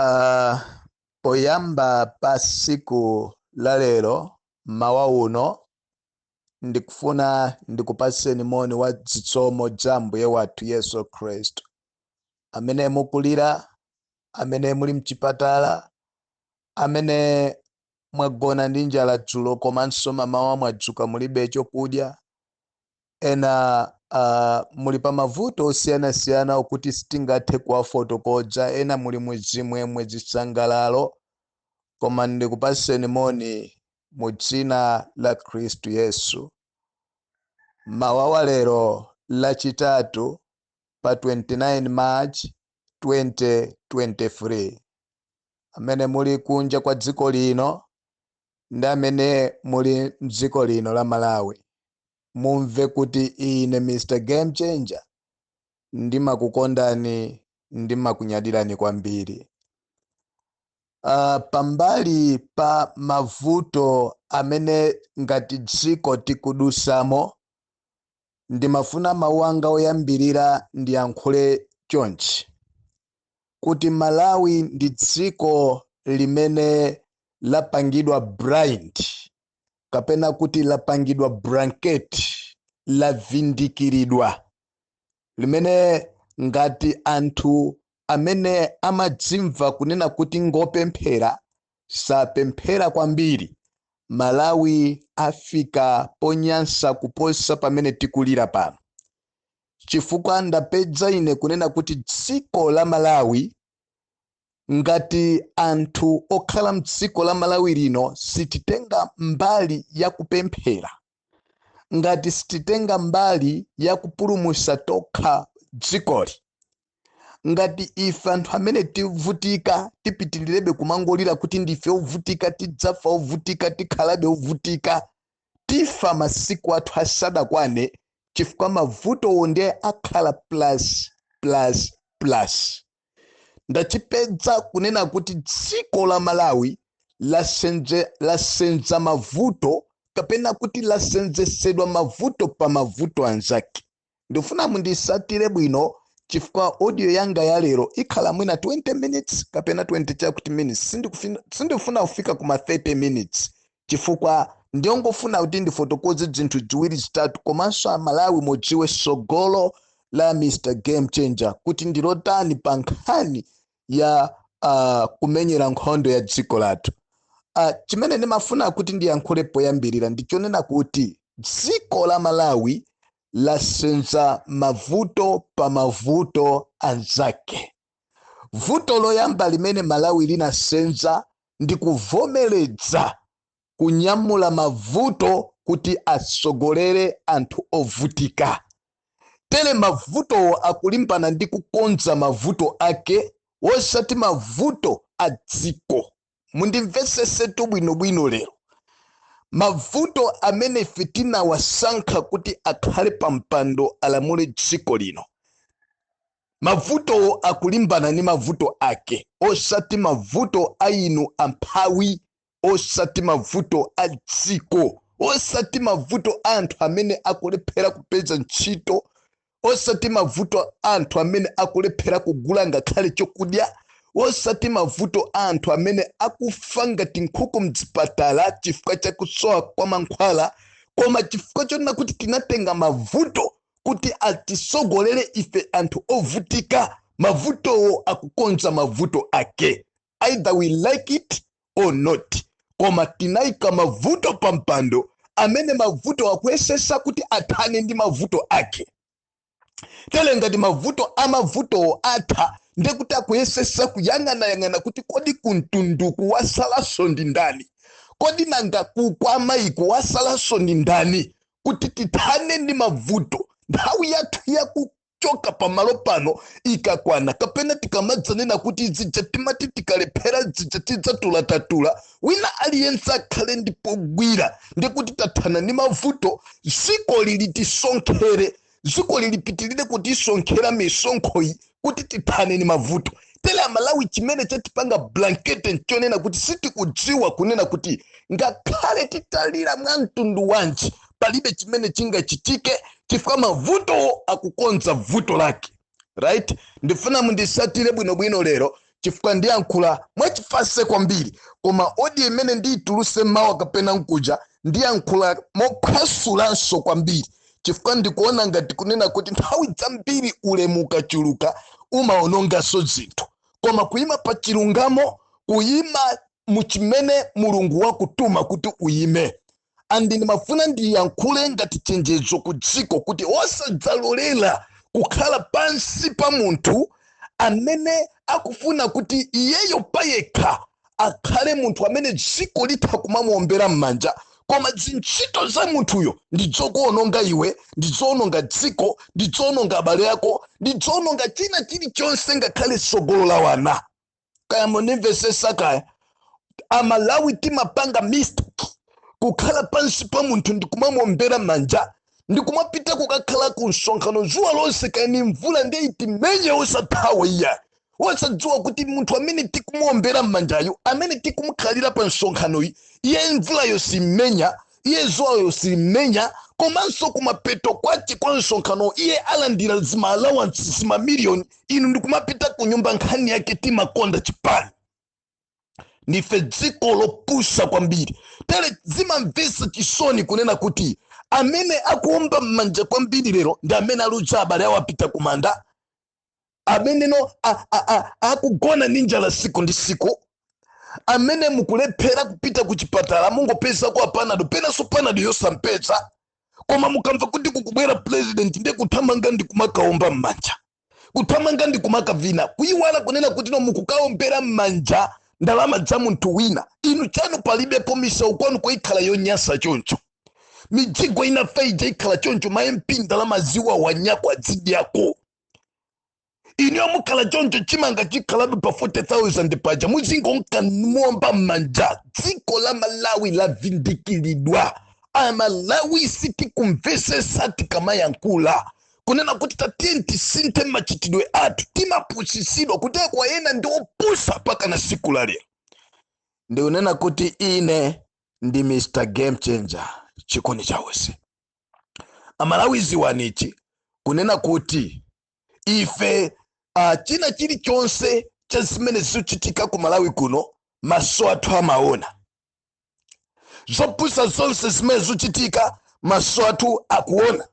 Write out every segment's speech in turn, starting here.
Uh, poyamba pa siku la lero m'mawa uno ndikufuna ndikupatseni moni wa dzitsomo dza mbuye wathu yesu khristu amene mukulira amene muli mchipatala amene mwagona ndi njala dzulo komanso mamawa mwadzuka mulibe chokudya Ena muli pa mavuto osiyanasiyana okuti sitingathe kuwafotokodza, ena muli mu zimwemwe, zisangalalo, koma ndikupatseni moni mu dzina la Khristu Yesu. M'mawa wa lero lachitatu pa 29 March 2023, amene muli kunja kwa dziko lino ndi amene muli m'dziko lino la Malawi, mumve kuti ine Mr Game Changer ndimakukondani ndimakunyadirani kwambiri. Uh, pambali pa mavuto amene ngati dziko tikudusamo ndimafuna mawu anga oyambirira ndiyankhule chonchi kuti Malawi ndi dziko limene lapangidwa blind kapena kuti lapangidwa blanket lavindikiridwa limene ngati anthu amene amadzimva kunena kuti ngopemphera sapemphera kwambiri malawi afika ponyansa kuposa pamene tikulira pano chifukwa ndapedza ine kunena kuti dziko la malawi ngati anthu okhala mdziko la malawi lino sititenga mbali ya kupemphera ngati sititenga mbali ya kupulumusa tokha dzikoli ngati ife anthu amene tivutika tipitilirebe kumangolira kuti ndife ovutika tidzafa ovutika tikhalabe ovutika tifa masiku athu asadakwane chifukwa mavutowo ndiye akhala plus plus plus ndachipedza kunena kuti dziko la malawi lasenza mavuto kapena kuti lasenzesedwa mavuto pa mavuto anzake ndifuna mundisatire bwino chifukwa audio yanga ya lero ikhala mwina 20 minutes kapena 20 chakuti minutes sindifuna kufika kuma 30 minutes chifukwa ndingofuna kuti ndifotokoze dzinthu dziwiri zitatu komanso amalawi mudziwe sogolo la Mr Game Changer kuti ndilotani pa nkhani ya uh, kumenyera nkhondo ya dziko lathu uh, chimene ndimafuna kuti ndiyankhule poyambirira ndichonena kuti dziko la malawi lasenza mavuto pa mavuto anzake Vuto loyamba limene Malawi linasenza ndi kuvomeledza kunyamula mavuto kuti atsogolere anthu ovutika. Tere mavutowo akulimbana ndi kukonza mavuto ake wosati mavuto a dziko. mundimvetsesetu bwinobwino lero mavuto amene ife tinawasankha kuti akhale pa mpando alamule dziko lino mavutowo akulimbana ndi mavuto ake osati mavuto a inu amphawi osati mavuto a dziko osati mavuto a anthu amene akulephera kupeza ntchito osati mavuto a anthu amene akulephera kugula ngakhale chokudya, osati mavuto a anthu amene akufa ngati nkhuku mzipatala chifukwa cha kusowa kwa mankhwala, koma chifukwa chonena kuti tinatenga mavuto kuti atisogolere ife anthu ovutika, mavutowo akukonza mavuto ake. either we like it or not koma tinaika mavuto pa mpando amene mavuto akuyesesa kuti athane ndi mavuto ake tele ngati mavuto amavutowo atha ndekuti akuyesesa kuyang'anayang'ana kuti kodi kuntunduku wasalaso ndi ndani kodi nanga ku kwa mai uku wasalaso ndi ndani kuti tithane ndi mavuto nthawi yathu yaku- choka pamalo pano ikakwana kapena tikamadzanena kuti zija timati tikalephera zija tidzatula tatula wina aliyense akhale ndi pogwira ndekuti tathana ndi mavuto dziko lili tisonkhere dziko lilipitirire kutisonkhera misonkhoyi kuti tithane ndi mavuto tele amalawi chimene chatipanga blanket nchonena kuti sitikudziwa kunena kuti ngakhale titalira mwa mtundu wanji palibe chimene chingachitike chifukwa mavutowo akukonza vuto lake right ndifuna mundisatire bwinobwino lero chifukwa ndiyankhula mwachifase kwambiri koma odiyo imene ndiyituluse mawa kapena nkuja ndiyankhula mophwasulanso kwambiri chifukwa ndikuona ngati kunena kuti nthawi zambiri ulemu ukachuluka umaononganso zinthu koma kuyima pa chilungamo kuyima muchimene mulungu wakutuma kuti uyime and ndimafuna ndiyankhule ngati chenjezo ku dziko kuti osadzalolera kukhala pansi pa munthu amene akufuna kuti iyeyo payekha akhale munthu amene dziko litha kumamuombera m'manja koma zintchito za munthuyo ndi dzokuononga iwe ndi dzoononga dziko ndi dzoononga abale ako ndi dzoononga china chilichonse ngakhale tsogolo la wana kaya mundimvesesa kaya amalawi timapanga mistake kukhala pansi pa munthu ndikumamuombera manja ndikumapita kukakhala ku msonkhano zuwa lonse kaya ndi mvula ndiye itimenye osathawa iya osadziwa kuti munthu amene tikumuombera mmanjayo amene tikumukhalira pa msonkhanoyi iye mvula yosammenya iye zuwa yosammenya komanso kumapeto kwake kwa msonkhano iye alandira zima allowance zima million inu ndikumapita ku nyumba nkhani yake timakonda chipani ndife dziko lopusa kwambiri tere zimamvesa chisoni kunena kuti amene akuomba m'manja kwambiri lero ndi amene aluza abale awo apita kumanda amenenu a- a- a- akugona ndi njala siku ndi siku amene mukulephera kupita ku chipatala mungopezako panado penanso panado yosampeza koma mukamva kuti kukubwera president ndiye kuthamanga ndi kumakaomba m'manja kuthamanga ndi kumakavina kuyiwala kunena kuti no mukukaombera m'manja ndalama za munthu wina inu chanu palibepo misewu kwanuko ikhala yonyasa choncho mijigo inafa ija ikhala choncho ma mp ndalama ziwawanyakwa adzidyako inuyo mukhala choncho chimanga chikhalabe pa 40000 paja muzingonka muomba m'manja dziko la malawi lavindikiridwa amalawi sitikumvesesa tikamayankhula kunena kuti tatiyeni tisinthe machitidwe athu timapusisidwa kuteko ena ndi opusa pakana siku la lero ndikunena kuti ine ndi mr game changer chikondi chawezi amalawi ziwanichi kunena kuti ife uh, china chilichonse cha zimene zikuchitika ku malawi kuno maso athu amaona zopusa zonse zimene zikuchitika maso athu akuona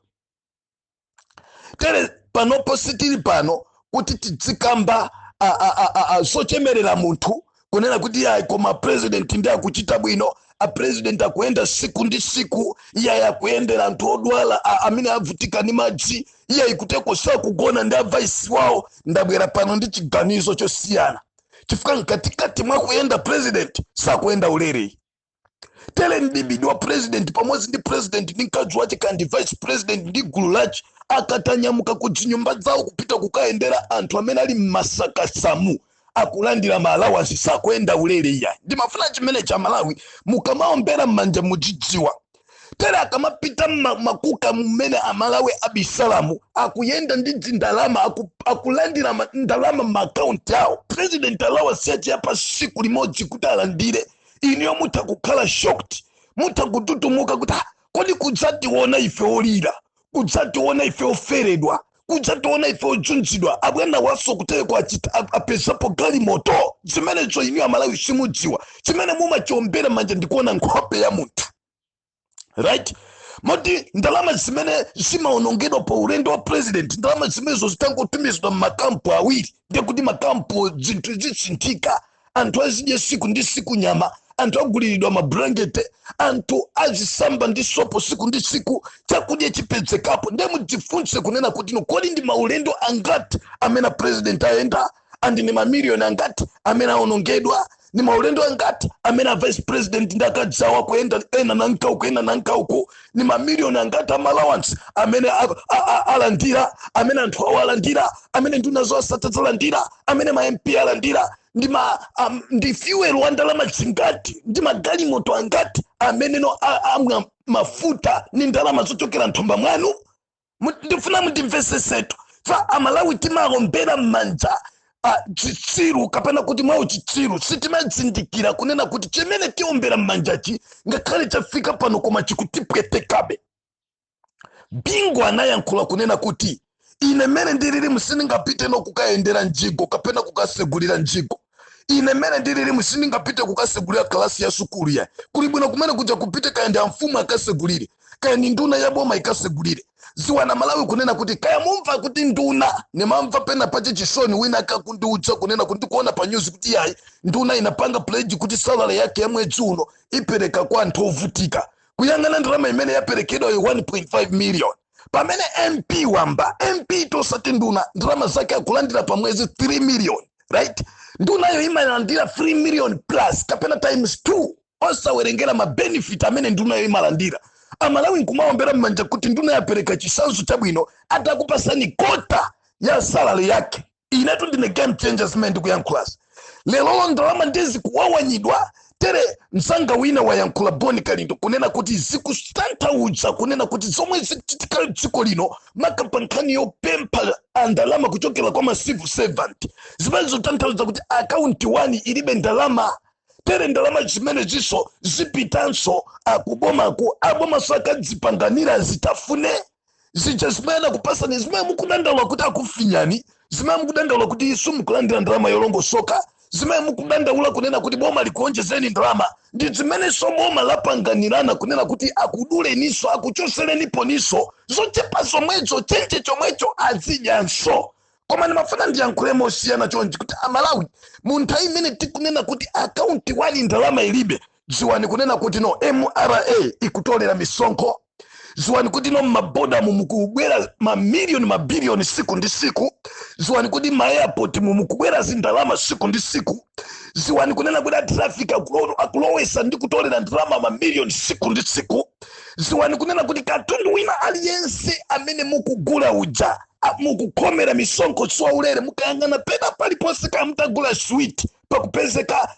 tere panopo sitili pano kuti tidzikamba a- a- a- a- a- zochemerera munthu kunena kuti iyayi koma a president ndi akuchita bwino a president akuyenda siku ndi siku iyayi akuyendera anthu odwala a- amene avutika ndi madzi iyayi kuteko sakugona ndi avaisi wawo ndabwera pano ndi chiganizo chosiyana chifukwa mkatikati mwakuyenda president sakuyenda ulere tere m'tsidya wa president pamodzi ndi president ndi mkazi wace kaya ndi vice president ndi gulu lace akatanyamuka ku dzinyumba dzawo kupita kukayendera anthu amene ali mmasakasamu akulandira ma allowance sakuyenda ulere iyayi ndimafuna chimene cha amalawi mukamaombera m'manja mudzidziwa tere akamapita mma- makuka mmene amalawi abisalamu akuyenda ndi dzindalama aku, akulandira ma- ndalama m'maakaunti awo president allowance yace ya pa siku limodzi kuti alandire inuyo mutha kukhala shocked mutha kututumuka kuti "Ah, kodi kudzationa ife olira kudzationa ife oferedwa kudzationa ife ojunjidwa abwanawa so kuteleko achita a- apezapo galimoto zimenezo inuyo amalawi simudziwa chimene mumachombera manja ndikuona nkhope ya munthu right moti ndalama zimene zimaonongedwa pa ulendo wa president ndalama zimenezo zitangotumizidwa mmakampu awiri ndiye kuti makampu zinthu zisinthika anthu azidye siku ndi siku nyama anthu aguliridwa mabulankete anthu azisamba ndi sopo siku ndi siku chakudya chipezekapo ndiye mudzifunse kunena kuti no kodi ndi maulendo angati amene president ayenda and ndi mamiliyoni angati amene aonongedwa ni maulendo angati amene a vice president ndi akazi awo akuyenda ena nanka uku ena nanka uku ni mamiliyoni angati a ma allowance amene alandira amene anthu awo alandira amene nduna zowatsata zalandira amene ma mp alandira ndi ma um, ndi fuel wa ndalama zingati ndi magalimoto angati amene no amwa mafuta ni ndalama zochokera nthumba mwanu Mu- ndifuna mundimvesesetu ife amalawi timaombera m'manja ah, chitsiru kapena kuti mwa uchitsiru sitimazindikira kunena kuti chimene tiombera m'manjachi ngakhale chafika pano koma chikutipwetekabe bingu anayankhula kunena kuti ine mmene ndililimu sindingapite no kukayendera mjigo kapena kukasegulira mjigo ine mmene ndililimu sindingapite kukasegulira kalasi ya sukulu yayi kuli bwino kumene kuja kupite kaya ndi amfumu akasegulire kaya ndi nduna ya boma ikasegulire dziwani amalawi kunena kuti kaya mumva kuti nduna nimamva pena pache chisoni wina akundiuza kunena kuti ndikuona pa nyuzi kuti yayi nduna inapanga pledge kuti salary yake ya mwezi uno ipereka kwa anthu ovutika kuyang'ana ndalama imene yaperekedwayo 1.5 million pamene mp wamba mptu osati nduna ndalama zake akulandira pa mwezi 3 million right ndunayo imalandira 3 million plus kapena times 2 osawerengera mabenefit amene ndunayo imalandira amalawi nkumaombera mmanja kuti nduna yapereka chisanzo chabwino atakupasani kota ya salary yake inetu ndine game changer zimene ndikuyankhulazi lero ndalama ndi zikuwawanyidwa tere mzanga wina wayankhula boni kalindo kunena kuti zikutanthauza kunena kuti zomwe zikuchitika dziko lino maka pa nkhani yopempha ndalama kuchokera kwa ma civil servant zimene zikutanthauza kuti akaunti wani ilibe ndalama tere ndalama zimenezinso zipitanso kubomaku abomanso akadzipanganira zitafune zija zimene anakupasani zimene mukudandaula kuti akufinyani zimene mukudandaula kuti simukulandira ndalama yolongosoka zimene mukudandaula kunena kuti boma likuonjezeni ndalama ndi zimenenso boma lapanganirana kunena kuti akuduleninso akuchosereniponinso zochepa zomwezo chenje chomwecho azidyanso koma ndimafuna ndiyankhule mosiyana chonchi kuti amalawi mu nthawi imene tikunena kuti akaunti wani ndalama ilibe ziwani kunena kuti no mra ikutolera misonkho ziwani kuti no mabodamu mukubwera mamiliyoni mabiliyoni siku ndi siku ziwani kuti maeyapoti mu mukubwera zindalama siku ndi siku ziwani kunena kuti atrafiki akulowesa ndi kutolera ndalama mamiliyoni siku ndi siku ziwani kunena kuti katundu wina aliyense amene mukugula uja mukukhomera misonkho siwaulere mukayang'ana pena paliponse kamutagula switi pakupezeka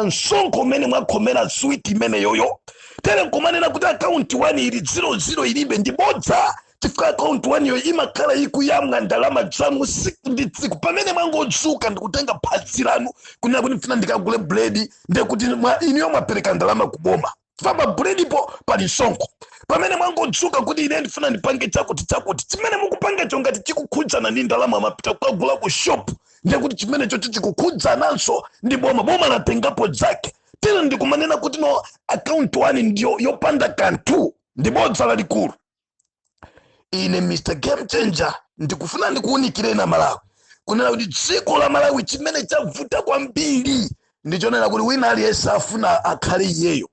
msonkho umene mwakhomera switi imeneyoyo tere nkumanena kuti akaunti wani ili ziro ziro ilibe ndi bodza chifukwa akaunti waniyo imakhala ikuyamwa ndalama zanu siku ndi tsiku pamene mwangodzuka ndikutenga phazi lanu kunena kuti mfuna ndikagule buledi ndekuti inuyo mwapereka ndalama kuboma chifukwa pa buledipo pali msonkho pamene mwangodzuka kuti ine ndifuna ndipange chakuti chakuti chimene mukupangacho ngati chikukhudzana ndi ndalama mwapita kukagula ku shop ndiye kuti chimenecho chikukhudzananso ndi boma boma latengapo zake tere ndikumanena kuti no akaunti wani ndiyo yopanda kanthu ndi bodza lalikulu ine mr game changer ndikufuna ndikuwunikireni amalawi kunena kuti dziko la malawi chimene chavuta kwambiri ndichonena kuti wina aliyense afuna akhale iyeyo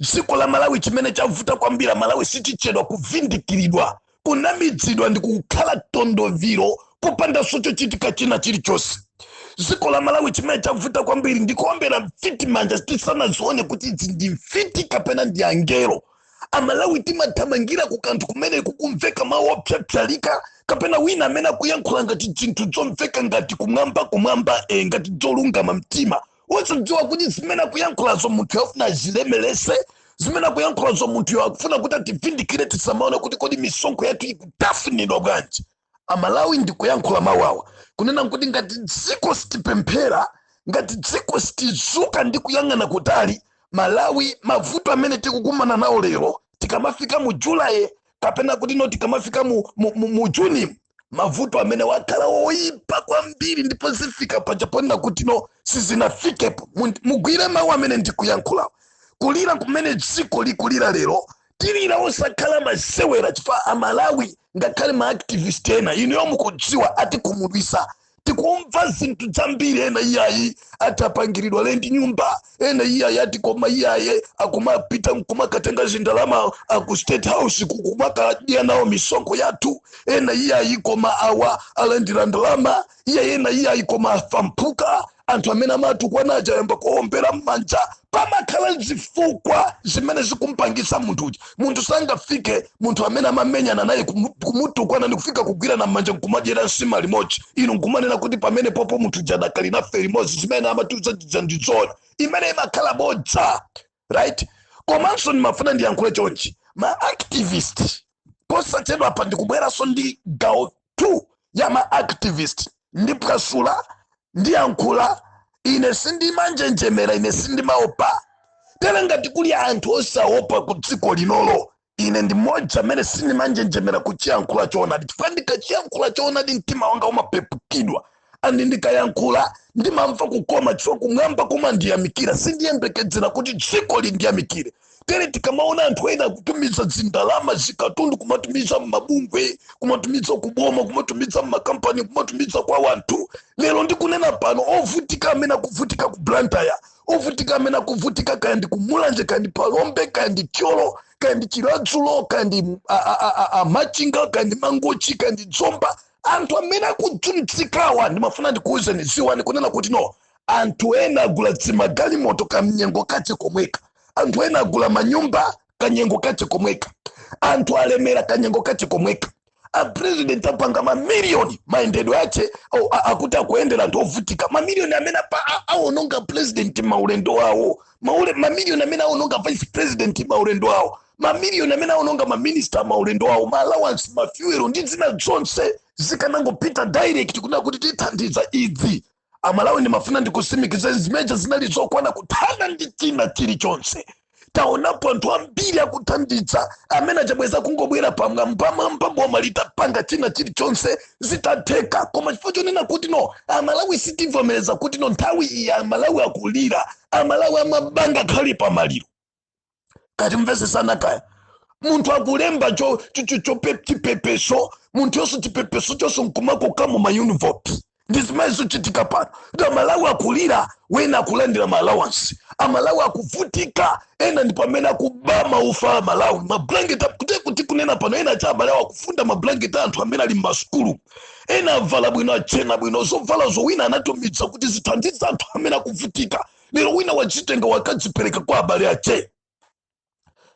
dziko la malawi chimene chavuta kwambiri amalawi sitichedwa kuvindikiridwa kunamizidwa ndi kukhala tondoviro popandanso chochitika china chilichonse dziko la malawi chimene chavuta kwambiri ndikuombera mfiti manja tisanazione kuti izi ndi mfiti kapena ndi angelo amalawi timathamangira ku kanthu kumene kukumveka mawu opsapsalika kapena wina amene akuyankhula ngati zinthu zomveka ngati kumwamba kumwamba ngati zolungama mtima osadziwa kuti zimene akuyankhulazo munthuyo afuna azilemerese zimene akuyankhulazo munthuyo akufuna kuti ativindikire tisamaone kuti kodi misonkho yathu ikutafunidwa bwanji amalawi ndikuyankhula mawu awa kunena kuti ngati dziko sitipemphera ngati dziko sitizuka ndi kuyang'ana kutali malawi mavuto amene tikukumana nawo lero tikamafika mu julaye kapena kuti no tikamafika mu, mu, mu, mu juni mavuto amenewa akhala oyipa kwambiri ndipo zifika paja ponena kuti no sizinafikepo Mu- mugwire mawu amene ndikuyankhulawo kulira kumene dziko likulira lero tilira osakhala masewera chifukwa amalawi ngakhale maactivist ena inuyo mukudziwa atikhumudwisa tikumva zinthu zambiri ena iyayi atapangiridwa lendi nyumba ena iyayi ati koma iyayi akumapita nkumakatenga zindalama aku state house kukumakadya nawo misonkho yathu ena iyayi koma awa alandira ndalama ena iyayi koma afamphuka anthu amene amatukwana aja ayamba kuombera m'manja pamakhala zifukwa zimene zikumpangisa munthu uja munthu sangafike munthu amene amamenyana naye kumu- kumutukwana ndi kufika kugwirana m'manja nkumadyera nsima limodzi inu nkumanena kuti pamene popo munthu uja adakali nafe limodzi zimene amatiuza zija ndi zona imene imakhala bodza right komanso ndimafuna ndiyankhule chonchi ma activist posachedwa apa ndikubweranso ndi gawo 2 ya ma activist ndiphwasula ndiyankhula ine sindimanjenjemera ine sindimaopa tere ngati kuli anthu osaopa ku dziko linolo Ine ndi mmodzi amene sindimanjenjemera kuchiyankhula choonadi chifukwa ndikachiyankhula choonadi mtima wanga umapepukidwa andi ndikayankhula ndimamva kukoma chifukwa kumwamba kumandiyamikira sindiyembekedzera kuti dziko lindiyamikire tere tikamaona anthu ena akutumiza zindalama zikatundu kumatumiza mmabungwe kumatumiza kuboma kumatumiza mmakampani kumatumiza kwa wanthu lero ndikunena pano ovutika amene akuvutika ku blantyre ovutika amene akuvutika kaya ndi kumulanje kaya ndi phalombe kaya ndi thyolo kaya ndi chiladzulo kaya ndi machinga kaya ndi mangochi kaya ndi dzomba anthu amene akudzunzikawa ndimafuna ndikuwuzeni ziwani kunena kuti no anthu ena agula dzimagalimoto kamnyengo kache komweka anthu ena agula manyumba kanyengo kache komweka anthu alemera kanyengo kache komweka a president apanga mamiliyoni mayendedwe ache au- a- akuti akuyendera anthu ovutika mamiliyoni amene apa- a- awononga president maulendo awo maule mamiliyoni amene awononga vice president maulendo awo mamiliyoni amene awononga maminista maulendo awo ma allowance mafuelo ndi zina zonse zikanangopita direct kunena kuti tithandiza idzi amalawi ndimafuna ndikusimikizeni zimene zija zinali zokwana kuthana ndi china chilichonse taonapo anthu ambiri akuthandiza amene achabweza kungobwera pamwambamwamba boma litapanga china chilichonse zitatheka koma chifukwa chonena kuti no amalawi sitivomereza kuti no nthawi iyi amalawi akulira amalawi amapanga nkhani pamaliro kati mvesesana kaya munthu akulemba cho- cho- cho- chope- chipepeso munthu yonse chipepeso chonse nkumakoka mu maunivoti ndi zimene zikuchitika pano kuti amalawi akulira ena akulandira maalawansi amalawi akuvutika ena ndi pamene akuba maufa amalawi mablanketi kuti kuti kunena pano ena cha amalawi akufunda mablanketi a anthu amene ali m'masukulu ena avala bwino achena bwino zovala zoti wina anatumiza kuti zithandize anthu amene akuvutika lero wina wazitenga wakadzipereka kwa abale ache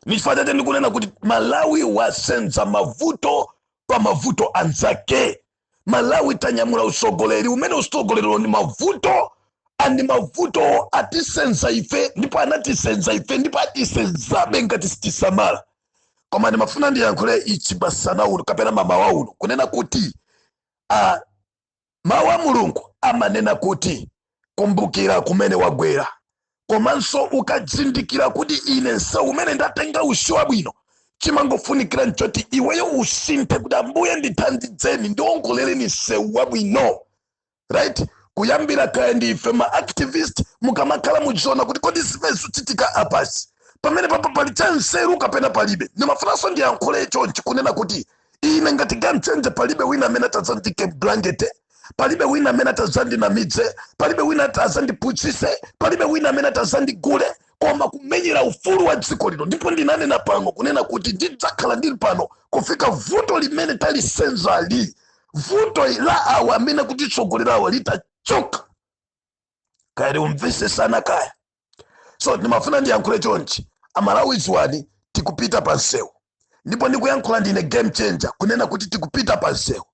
nichifukwa chake ndikunena kuti malawi wasenza mavuto pa mavuto anzake malawi tanyamula usogoleri umene usogoleriwo ni mavuto andi mavuto atisenza ife ndipo anatisenza ife ndipo atisenzabe ngati sitisamala koma ndimafuna ndiyankhule ichi masana uno kapena mamawa uno kunena kuti uh, Mawu a Mulungu amanena kuti, Kumbukira kumene wagwera. Komanso ukazindikira kuti ine msewu umene ndatenga usu si wabwino, chimangofunikira nchoti iweyo usinthe kuti Ambuye ndithandizeni, ndiwongolereni msewu wabwino. Right? Kuyambira kaya ndi ife ma activist mukamakhala muziona kuti kodi zimene zikuchitika apazi pamene papa pali cha nzeru kapena palibe. Ndimafunanso ndiyankhule chonchi kunena kuti ine ngati game changer palibe wina amene atazandiike m'blankete palibe wina amene atazandinamidze palibe wina atazandipusise palibe wina amene atazandigule koma kumenyera ufulu wa dziko lino ndipo ndinanena pano kunena kuti ndidzakhala ndili pano kufika vuto limene talisenzali vuto la awa amene akutitsogolerawa litachoka kaya mumvesesana kaya so ndimafuna ndiyankhule chonchi amalawi ziwani tikupita pa msewu ndipo ndikuyankhula ndine game changer kunena kuti tikupita pa msewu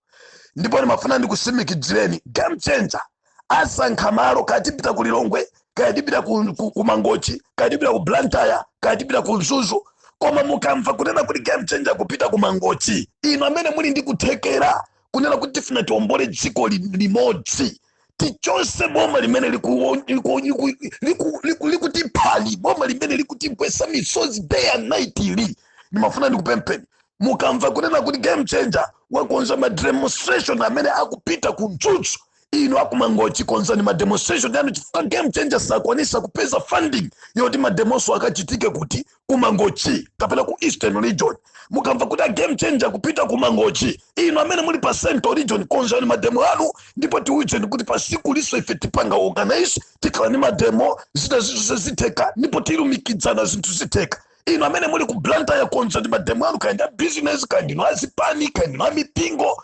ndipo ndimafuna ndikusimikizireni game changer asankha malo kaya tipita ku lilongwe kaya tipita ku, ku, ku mangochi kaya tipita ku blantyre kaya tipita ku mzuzu koma mukamva kunena kuti game changer akupita ku mangochi inu amene muli ndi kuthekera kunena kuti tifuna tiombole dziko li- limodzi tichose boma limene liku- liku- liku- liku- liku- likutiphali boma limene likutikhesa misozi day and night ili ndimafuna ndikupempheni mukamva kunena kuti game changer wakonza ma demonstration amene akupita ku Mzuzu inu akumangochi konzani ma demonstration anu chifukwa game changer sakwanisa kupeza funding yoti mademonso akachitike kuti kumangochi kapena ku eastern region mukamva kuti a game changer akupita kumangochi inu amene muli pa central region konzani mademo anu ndipo tiwuzeni kuti pa siku ili ifeso tipanga organize tikhala ni mademo zina zinthu zitheka ndipo tilumikizana zinthu zitheka inu amene muli ku blantyre konzani mademo anu kaya ndinu a business kaya ndinu azipani kaya ndinu amipingo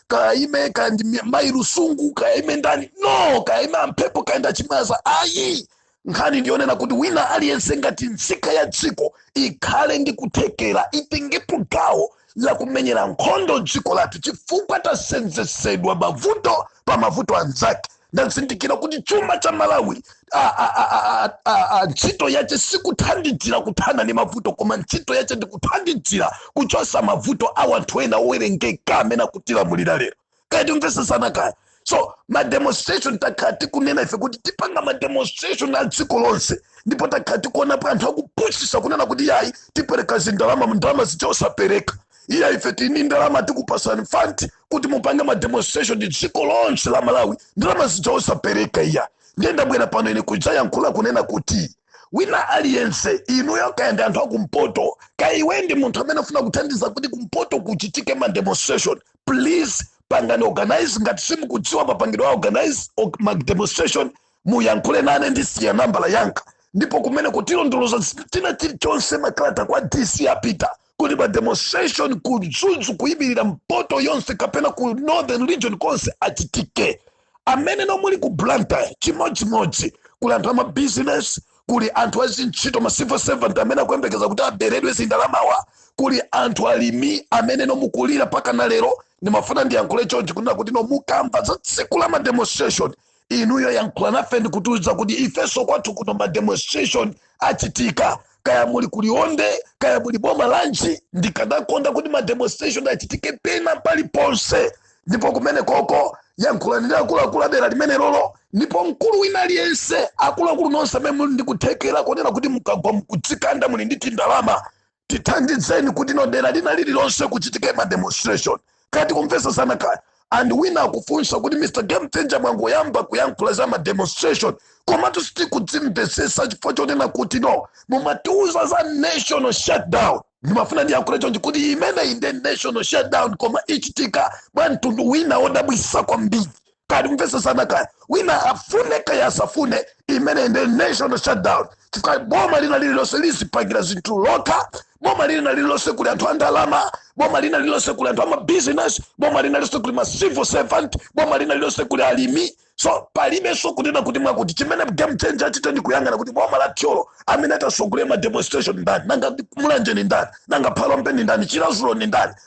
kaya aime kaya ndi mi- mayi Lusungu kaya aime ndani no kaya aime a Mphepo kaya ndi a Chimwaza ayi nkhani ndiyonena kuti wina aliyense ngati nzika ya dziko ikhale ndi kuthekera itengepo gawo la kumenyera nkhondo dziko lathu chifukwa tasenzetsedwa mavuto pa mavuto anzake ndazindikira kuti chuma cha malawi a- a- a- a- a- a- a- ntchito yace sikuthandizira kuthana ndi mavuto koma ntchito yace ndi kuthandizira kuchosa mavuto a wanthu ena owerengeka amene akutilamulira lero kaya tikumvesesana kaya so mademonstration takhala tikunena ife kuti tipanga mademonstration a dziko lonse ndipo takhala tikuonapo anthu akupusisa kunena kuti yayi tipereka zindalama ndalama zija osapereka iya ife tini ndalama tikupasani fund kuti mupange ma demonstration a dziko lonse la malawi ndalama zija osapereka iya ndiye ndabwera pano ine kudzayankhula kunena kuti wina aliyense inuyo kaya ndi anthu akumpoto kaya iwe ndi munthu amene afuna kuthandiza kuti kumpoto kuchitike ma demonstration please pangani organize ngati simukudziwa mapangidwe a organize o- ma demonstration muyankhule nane ndisiya nambala yanga ndipo kumeneko tilondoloza tina chilichonse makalata kwa dc apita kuti ma demonstration ku Mzuzu kuyimirira mpoto yonse kapena ku northern region konse achitike amene nomuli ku blantyre chimodzimodzi kuli anthu amabizinesi kuli anthu azintchito ma civil servant amene akuyembekeza kuti aberedwe zindalama mawa kuli anthu alimi amene nomukulira mpaka na lero ndimafuna ndiyankhule chonchi kunena kuti no mukamva za tsiku la mademonstration inuyo yankhulani nafe ndikutiuza kuti ifenso kwathu kuno ma demonstration achitika kaya muli ku Liwonde kaya muli boma lanji ndikadakonda kuti ma demonstration achitike pena pali ponse ndipo kumene koko yankhulani ndi akuluakulu adera limene lolo ndipo mkulu wina aliyense akuluakulu nonse amene muli ndikuthekera kunena kuti mukagwa mukudzikanda muli ndi tindalama tithandizeni kuti no dera lina lililonse kuchitike ma demonstration kaya tikumvesesana kaya and wina akufunsa kuti mr game changer mwangoyamba kuyankhula za ma demonstration komatu sitikuzimvesesa chifukwa chonena kuti no mumatiuza za national shutdown ndimafuna ndiyankhule chonchi kuti imeneyi nde national shutdown koma ichitika mwa mtundu wina odabwisa kwambiri kaya tikumvetsesana kaya wina afune kaya asafune imeneyi nde national shutdown chifukwa boma lina lililonse lizipangira zinthu lokha boma lina lililonse kuli anthu andalama boma lina lililonse kuli anthu amabizinesi boma lina lililonse kuli ma civil servant boma lina lililonse kuli alimi so palibenso kunena kuti mwakuti chimene game changer achite ndi kuyang'ana kuti boma la thyolo amene atasogolera ma demonstration ndani nanga mulanje ni ndani nanga phalombe ni ndani chiradzulu ni ndani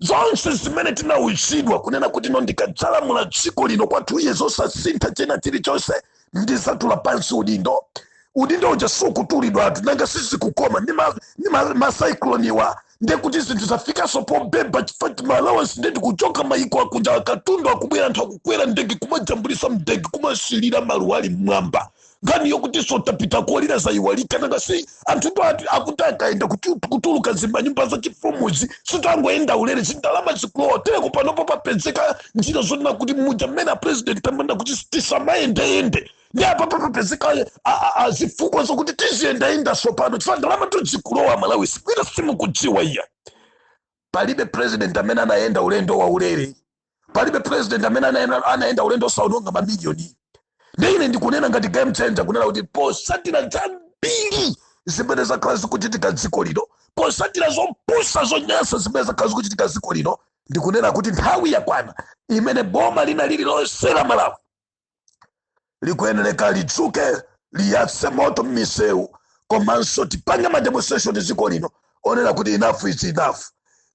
zonse zimene tinawuzidwa kunena kuti no ndikadzalamula dziko lino kwa two years osasintha china chilichonse ndizatula pansi udindo udindo uja sukutulidwatu nanga sizikukoma ndi ma- ndi ma- macycloniwa ndiye kuti zinthu zafikanso pobeba chifukwa ma allowance nde kuti kuchoka mayiko akunja akatundu akubwera anthu akukwera mdege kumajambulisa mdege kumasilira maluwali mmwamba nkhani yokuti sotapita kolira zayiwalika nanga si anthu ndo ati- akuti akaenda kutu- kutuluka mzimanyumba za chifumuzi sitangoenda ulere zindalama zikulowa teleko panopo papezeka njira zonena kuti muja mmene a president amati kuti tisamayendeyende ndi apa papapezeka a- a- a- zifukwa zokuti tiziyendayenda tsopano chifukwa ndalamatu zikulowa malawi sikwina simukudziwa iya palibe president amene anayenda ulendo wa ulere palibe president amene anayenda, anayenda ulendo osaononga mamiliyoni nde ine ndikunena ngati game changer kunena kuti posatira zambiri zimene zakhala zikuchitika mdziko lino posatira zopusa zonyansa zimene zakhala zikuchitika mdziko lino ndikunena kuti nthawi yakwana imene boma lina lililonse la malawi likuyeneleka lidzuke liyatse moto m'misewu komanso tipange mademonstration mdziko lino onena kuti enough is enough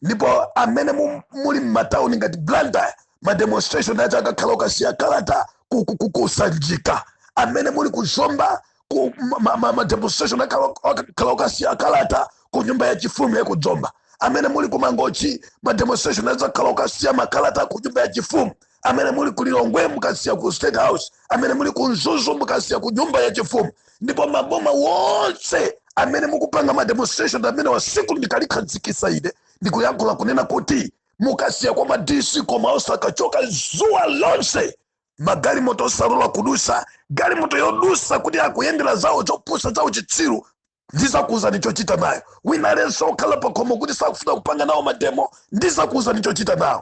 ndipo amene mu- muli m'matawuni ngati blantyre mademonstration aja akakhala okasiya kalata ku- ku- ku- kusanjika amene muli ku zomba ku ma- ma- ma- ma demonstration akakhala okasiya kalata ku nyumba ya chifumu ya ku zomba amene muli ku mangochi ma demonstration akakhala okasiya makalata ku nyumba ya chifumu amene muli ku lilongwe mukasiya ku state house amene muli ku mzuzu mukasiya ku nyumba ya chifumu ndipo maboma onse amene mukupanga ma demonstration amene wa tsiku ndikalikhazikisa ine ndikuyankhula kunena kuti mukasiya kwa ma DC koma osakachoka zuwa lonse magalimoto osalola kudusa galimoto yodusa kuti akuyendera zawo zopusa zawo chitsiru ndizakuuzani chochita nayo wina aliyense okhala pakhomo kuti sakufuna kupanga nawo mademo ndizakuuzani chochita naye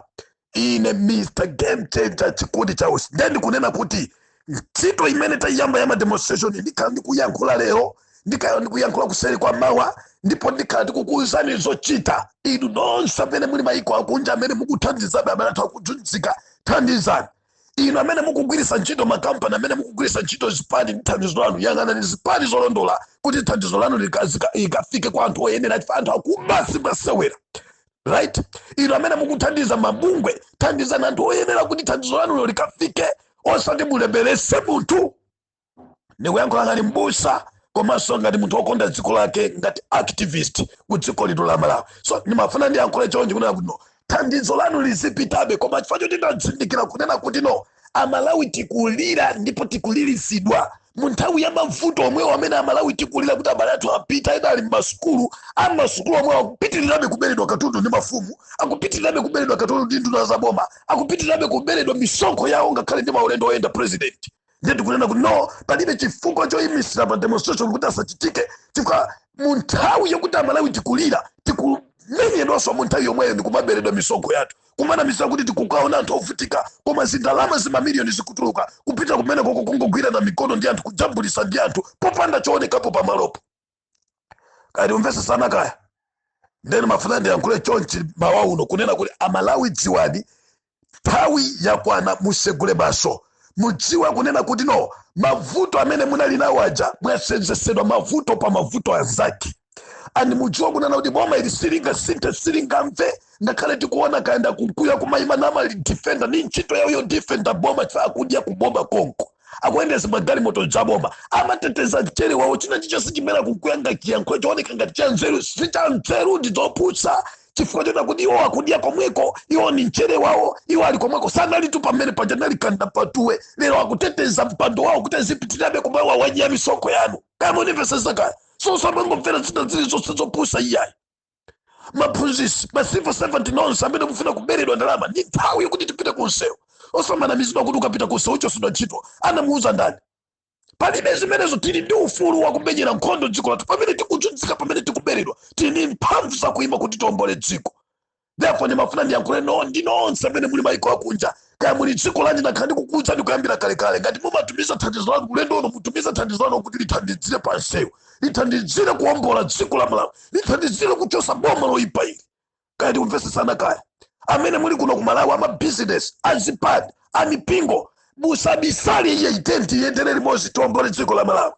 ine mr game changer chikondi chausi ndiye ndikunena kuti ntchito imene taiyamba ya mademonstration ndikhala ndikuyankhula lero ndikhala ndikuyankhula kuseri kwa mawa ndipo ndikhala ndikukuwuzani zochita inu nonse amene muli mayiko akunja amene mukuthandiza abale athu akuzunzika thandizani inu amene mukugwiritsa ntchito makampani amene mukugwiritsa ntchito zipani ndi thandizo lanu yang'anani zipani zolondola kuti thandizo lanu lika- zika- likafike kwa anthu oyenera chifukwa anthu akuba simasewera right inu amene mukuthandiza mabungwe thandizani anthu oyenera kuti thandizo lanulo likafike osati mulemeretse munthu ndikuyankhula ngati mbusa komanso ngati munthu wokonda dziko lake ngati activist ku dziko lino la malawi so ndimafuna ndiyankhule chonchi kunena kuti no thandizo lanu lizipitabe koma chifukwa choti ndazindikira kunena kuti no amalawi tikulira ndipo tikuliritsidwa mu nthawi ya mavuto omwewo amene amalawi tikulira kuti abale athu apita ena ali m'masukulu amasukulu omwewo akupitirirabe kuberedwa katundu ndi mafumu akupitirirabe kuberedwa katundu ndi nduna za boma akupitirirabe kuberedwa misonkho yawo ngakhale ndi maulendo oyenda president ndiye tikunena kuti no palibe chifukwa choyimisira ma demonstration kuti asachitike chifukwa mu nthawi yokuti amalawi tikulira tikumenyedwanso mu nthawi yomweyo ndi kumaberedwa misonkho yathu kumanamiza kuti tikukaona anthu ovutika koma zindalama zimamiliyoni zikutuluka kupita kumeneko ko kungogwirana mikono ndi anthu kujambulisa ndi anthu popanda choonekapo pamalopo kaya tikumvesesana kaya nde nimafuna ndiyankhule chonchi mawa uno kunena kuti amalawi dziwani nthawi yakwana musegule maso mudziwe kunena kuti no mavuto amene munali nawo aja mwasenzesedwa mavuto pa mavuto anzake and mudziwe kunena kuti boma ili silingasinthe silingamve ngakhale tikuona kayenda uku ya kumayima nama defender ni ntchito yawo yo defender boma chifukwa akudya kuboma konko akuyendesa magalimoto aboma amateteza mchere wawo china chilichonse chimene akuyankhula ngati chiyankhulo chooneka ngati cha nzeru si cha nzeru ndi zopusa chifukwa chonena kuti iwo akudya komweko iwo ni mchere wawo iwo ali komweko sanalitu pamene paja nali kanda patuwe lero akuteteza mpando wawo kuti azipitirabe kumawadya misonkho yanu kaya munimvesesa kaya so osamangomvera zina zili zonse zopusa iyayi aphunzisi ma civil servant nonse amene mufuna kuberedwa ndalama ndi nthawi yokuti tipite ku nsewu osamanamizidwa kuti ukapita ku nsewu uchosedwa ntchito anamuuza ndani palibe zimenezo tili ndi ufulu wakumenyera nkhondo dziko lathu pamene tikuzunzika pamene tikuberedwa tili ndi mphamvu zakuima kuti tiombole dziko therefore ndimafuna ndiyankhulenso ndi nonse amene muli maiko akunja kaya muli dziko lanji nakhala ndikukuwuzani kuyambira kalekale ngati mumatumiza thandizo lanu ulendo uno mutumiza thandizo lanu kuti lithandizire pa nsewu lithandizire kuwombola dziko la malawi lithandizire kuchosa boma loyipa ili kaya tikumvesesana kaya amene muli kuno ku malawi amabizinesi azipani amipingo musabisale iyayi tiyeni tiyendere limodzi tiwombole dziko la malawi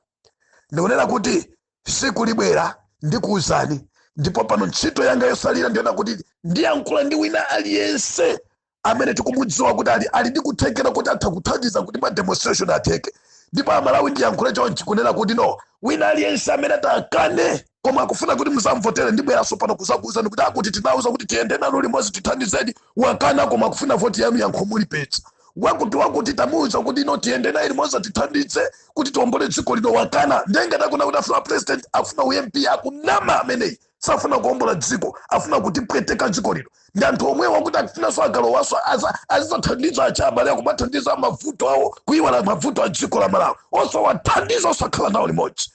ndikunena kuti siku libwera ndikuwuzani ndipo pano ntchito yanga yosalira ndi yonena kuti ndiyankhula ndi wina aliyense amene tikumudziwa kuti ali, ali ndi kuthekera kuti atha kuthandiza kuti ma demonstration atheke ndipo amalawi ndiyankhule chonchi kunena kuti no wina aliyense amene atakane koma akufuna kuti muzamvotere ndibweranso pano kuzakuuzani kuti akuti tinauza kuti tiyende nanu limodzi tithandizeni wakana koma akufuna voti yanu yankho mulipeza wakuti wakuti tamuuza kuti no tiyende naye limodzi tithandize kuti tiombole dziko lino wakana nde ngati akunena kuti afuna president afuna u mp akunama ameneyi safuna kuombola dziko afuna kutipweteka dziko lino ndi anthu omwewo akuti akufunanso agalowanso aza- azizathandiza achabale akumathandiza mavuto awo kuiwala mavuto a dziko la malawi osawathandiza osakhala nawo limodzi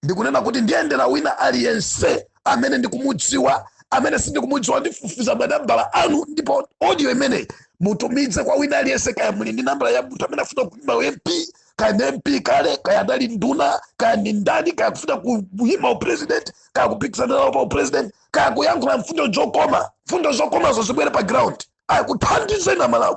ndikunena kuti ndiyendera wina aliyense amene ndikumudziwa amene sindikumudziwa ndifufuza manambala anu ndipo audio imeneyi mutumize kwa wina aliyense kaya muli ndi nambala ya munthu amene afuna kuima mp kaya ni MP kale kaya anali nduna kaya ni ndani kaya kufuna ku- kuyima upresident kaya kupikisana nawo pa upresident kaya kuyankhula mfundo zokoma mfundo zokomazo zibwere pa ground iya kuthandizeni amalawi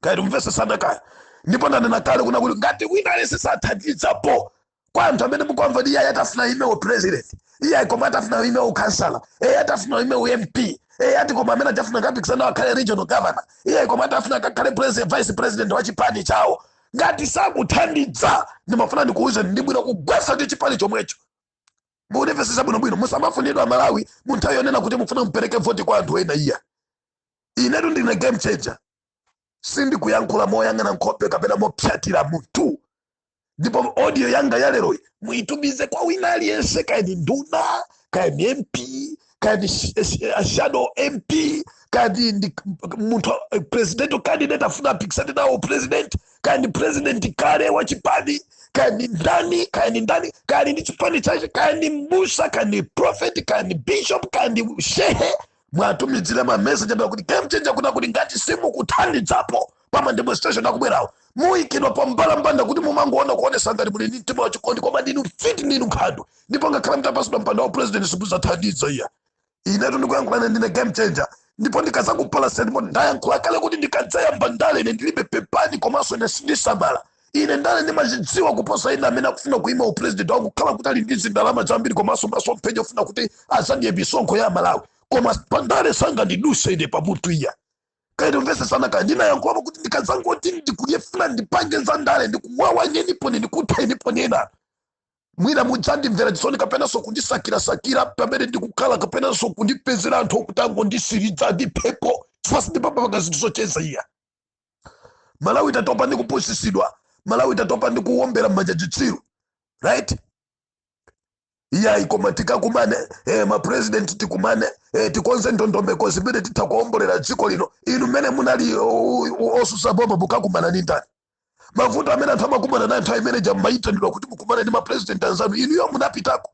kaya timvesesana kaya ndipo ndanena kale kuna kuti ngati wina aliyense sathandizapo kwa anthu amene mukwamva ndi iye atafuna ime u president iye koma atafuna ime u councillor iye atafuna ime u mp iye ati koma amene atafuna kapikisana akhale regional governor iye koma atafuna akakhale president vice president wa chipani chawo ngati sakuthandiza ndimafuna ndikuwuzeni ndi bwino kugwetsa ndi chipani chomwecho mundimvetsetsa bwinobwino musamafunidwa amalawi mu nthawi yonena kuti mufuna mupereke voti kwa anthu ena iya inetu ndine game changer sindikuyankhula moyang'ana nkhope kapena mopsatila munthu ndipo audio yanga ya lero iyi muitumize kwa wina aliyense kaya ni nduna kaya ni mp kaya ni sh- sh- a shadow mp kaya ni ndi munthu eh, presidential candidate afuna apikisane nawo president kaya ni president kale wa chipani kaya ni ndani kaya ni ndani kaya ni ndi chipani chache kaya ni mbusa kaya ni prophet kaya ni bishop kaya ni shehe mwatumidzire ma message amene kuti game changer kunena kuti ngati simukuthandidzapo pa ma demonstration akubwerawo muyikidwa pa mbalambanda kuti mumangoona kuonesa ngati muli ndi mtima wachikondi koma ndinu mfiti ndinu nkhando ndipo ngakhale mutapasidwa mpando wa president simuzathandidza iya inetu ndikuyankhulane ndine game changer ndipo ndikazakupalasani ndipo ndayankhula kale kuti ndikadzayamba ndale ine ndilibe pepani komanso ine sindisamala ine ndale ndimazidziwa kuposa ine amene akufuna kuima upresident wangokhala kuti ali ndi zindalama zambiri komanso masomphenya ofuna kuti azadye misonkho ya malawi koma pandale sangandiduse ine pamutu iya kaya timvesesana kaya ndinayankhulapo kuti ndikazangoti ndikuyefuna ndipange za ndale ndikuwawanyenipo nini kuthenipo nina mwina mudzandimvera chisoni kapenanso kundisakirasakira pamene ndikukhala kapenanso kundipezera anthu okuti angonditsiriza ndithepo chifukwa sindimapanga zinthu zocheza iya amalawi tatopa ndi kupusisidwa amalawi tatopa ndi kuwombera m'manja chitsiru right iyayi koma tikakumane eh, mapurezidenti tikumane eh, tikonze ndondomeko zimene titha kuombolera dziko lino inu mmene munali o- o- osusa boma mukakumana ndi ndani mavuto amene anthu amakumana nayo nthawi imene ija munaitanidwa kuti mukumane ndi mapurezidenti anzanu inuyo munapitako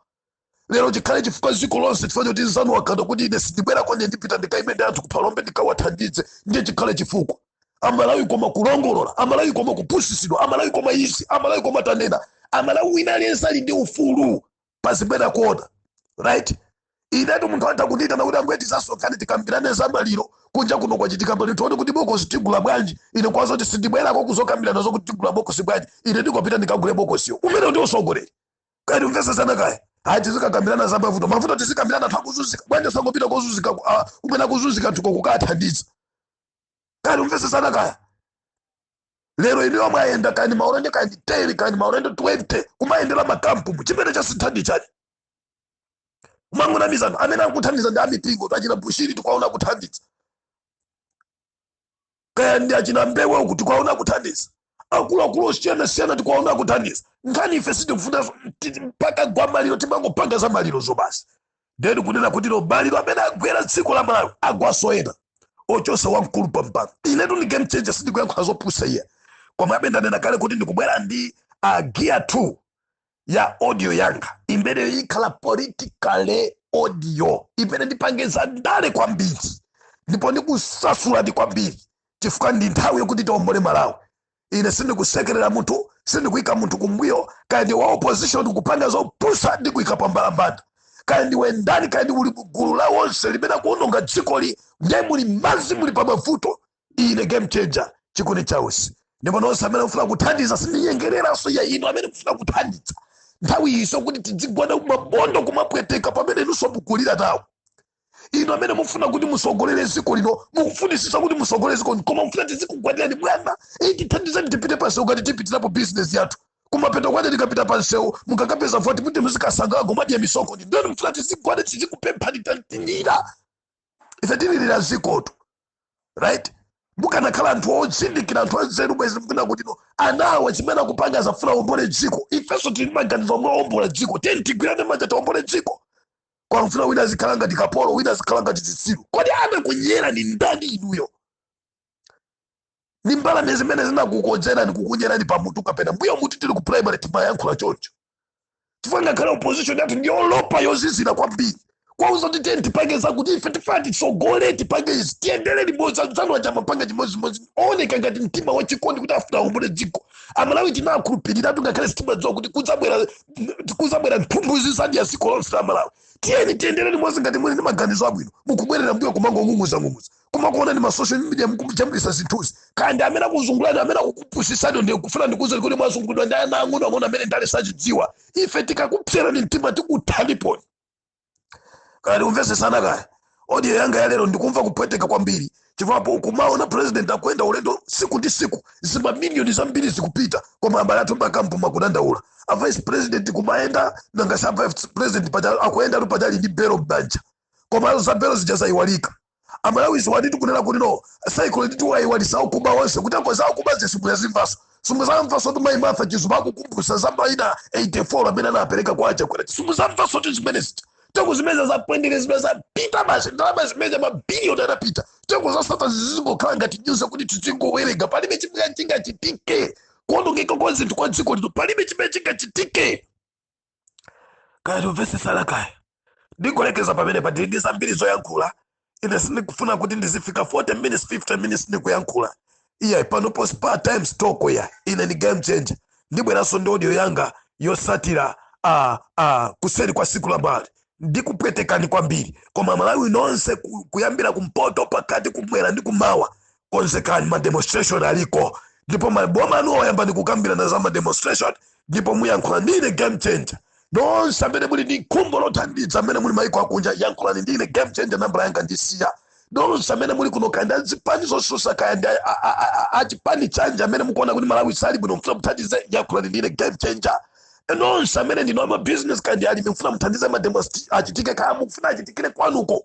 lero chikhale chifukwa dziko lonse chifukwa choti nzanu wakana kuti ine sindibwera konye ndipita ndikaone anthu kuphalombe ndikawathandize ndiye chikhale chifukwa amalawi koma kulongolola amalawi koma kupusisidwa amalawi koma izi amalawi koma tanena amalawi wina aliyense ali ndi ufulu pazimene akuona right inetu munthu atha kundita nakuti ambuye tizasonkhane tikambirane za maliro kunja kuno kwachitika pali tione kuti bokosi tigula bwanji ine kuwauza kuti sindibwerako kuzokambirana zokuti tigula bokosi bwanji ine ndikupita ndikagule bokosiyo umenewo ndi usogoleri kaya tikumvesesana kaya ayi tizikakambirana za mavuto mavuto tizikambirana anthu akuzunzika bwanji osangopita kozunzika ku- ah, kumene akuzunzika anthuko kukathandiza kaya tikumvesesana kaya lero inuyo mwayenda kaya maulendo kaya 10 kaya maulendo 20 kumayendera makampumu chimene chasintha ndi chani umangonamizana amene akuthandiza ndi amipingo achina Bushiri tikuwaona akuthandiza kaya ndi achina mbewe uku tikuwaona akuthandiza akuluakulu osiyanasiyana tikuwaona akuthandiza nkhani ife sitikufuna ti- mpaka kugwa maliro timangopanga za malirozo basi ndeni kunena kuti no maliro amene agwera dziko la malawi agwaso ena oposa wamkulu pampano inetu ndi game changer sindikuyankhula zopusa iye komabe ndanena kale kuti ndikubwera ndi uh, gear 2 ya audio yanga imene ikhala political audio imene ndipange za ndale kwambiri ndipo ndikusasulani kwambiri chifukwa ndi nthawi yokuti tiombole malawi ine sindikusekerera munthu sindikuyika munthu kumbuyo kaya ndi wa opposition ukupanga zopusa ndikuyika pambalambanda kaya ndiwe ndani kaya ndiwe uli mugulu la onse limene likuononga dzikoli ndiye muli mmadzi muli pa mavuto ine game changer chikuni chausi ndipo nonse amene mufuna kuthandiza sindinyengereranso ayi inu amene mufuna kuthandiza nthawi iyiso kuti tidzigwada mabondo kumapweteka pamene inunso mukulira nawo inu amene mufuna kuti musogolere ziko lino mukufunisisa kuti musogolere ziko lino koma mufuna tizikugwadirani bwana iyi tithandizani tipite pansewu ngati tipitirapo bizinesi yathu kumapeto kwache tikapita pansewu mukakapeza voti kuti muzikasangalala kumadya misonkho ndeno mufuna tizigwada tizikupemphani tantinira ife tililira zikotu right mukanakhala anthu ozindikira anthu anzeru bwezi mukunena kuti no anawa chimene akupanga akufuna aombole dziko ifenso tili ndi maganizo omwe aombola dziko tiyeni tigwirane manja tiombole dziko koma mufuna wina azikhala ngati kapolo wina azikhala ngati zitsiru kodi anakunyerani ndani inuyo ndi mbalame zimene zinakukodzerani kukunyerani pamutu kapena mbuyo mutu tili ku primary timayankhula choncho chifukwa ngakhale opposition yathu ndi yolopa yozizira kwambiri kuwauza kuti tiyeni tipange zakuti ife tifuna titsogole tipange izi tiyendere limodzi anzanu aja amapanga chimodzimodzi ooneka ngati mtima wachikondi kuti afuna aombole dziko amalawi tinakhulupiriratu ngakhale sitimadziwa kuti kudzabwera kudzabwera mphumbu zi zadya dziko lonse la malawi tiyeni tiyendere limodzi ngati muli ndi maganizo abwino mukubwerera mbuyo kumangong'ung'uzang'ung'uza kumakuona ndi masocial media mukujambulisa zinthuzi kaya ndi amene akuzungulani amene akukupusisani ndikufuna ndikuuzeni kuti mwazungulidwa ndi ana ang'ono ang'ono amene ndale sazidziwa ife tikakupserani mtima tikuthani pano kaya tikumvesesana kaya audio yanga ya lero ndikumva kupweteka kwambiri chifukwa kumaona president akuyenda ulendo siku ndi siku zimamiliyoni zambiri zikupita koma abale athu m'makampu akudandaula a vice president kumayenda nanga sa vice president paja- akuyenda tu pajali ndi belo m'banja koma za belo zija zayiwalika amalawi ziwanitu kunena kuti Norway Circle ndi amene nditu wayiwalisa okuba onse kuti akoza kuba sumuzazimvaso sumuzamvaso kuti mayi martha chizuma akukumbusa za maina 84 amene anapereka kwa achakwera sumuzamvaso kuti zimenezi tengo zimene za Mpwendere zimene zapita basi ndalama zimene mabiliyoni anapita tenko za Sattar zizingokhala ngati nyuza kuti tizingowerenga palibe chimene chingachitike kuonongeka kwa zinthu kwa dziko lino palibe chimene chingachitike kaya tikumvesesana kaya ndikulekeza pamenepa ndili ndi zambiri zoyankhula ine sindikufuna kuti ndizifika 40 minutes 50 minutes ndikuyankhula iyayi pano posi pa time stock ya ine ni game changer ndibweranso ndi audio yanga yosatira a a kuseri kwa siku la mmawa ndikupweteka kwambiri koma amalawi nonse ku- kuyambira kumpoto pakati kumwera ndi kumawa konzekani ma demonstration aliko ndipo m'maboma anu oyambani kukambirana za ma demonstration ndipo muyankhule ndine game changer nonse amene muli ndi khumbo lothandiza amene muli maiko akunja yankhulani ndine game changer nambala yanga ndisiya nonse amene muli kuno kaya ndi azipani zosusa kaya ndi a- a- a- a- achipani chanja amene mukuona kuti malawi sali bwino mfuna muthandize yankhulani ndine game changer nonse amene ndinu amabusiness kaya ndi alimi mfuna muthandize mademos achitike kaya mufuna achitikire kwanuko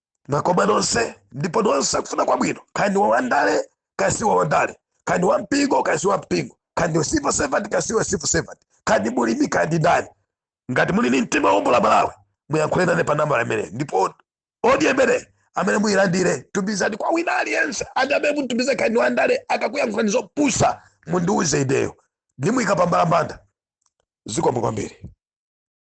mwakoma nonse ndipo nonse okufuna kwabwino kaya ndi wandale kaya si wandale kaya ndi wampingo kaya si wampingo kaya ndi civil servant kaya si civil servant kaya ndi mulimi kaya ndi ndani ngati muli ni mtima wombola malawi muyankhule nane pa nambala imene ndipo audio imene amene muyilandire tumizani kwa wina aliyense andi amene mutumize kaya ndi wandale akakuyankhulani zopusa mundiuze ineyo ndimuyika pambalambanda zikomo kwambiri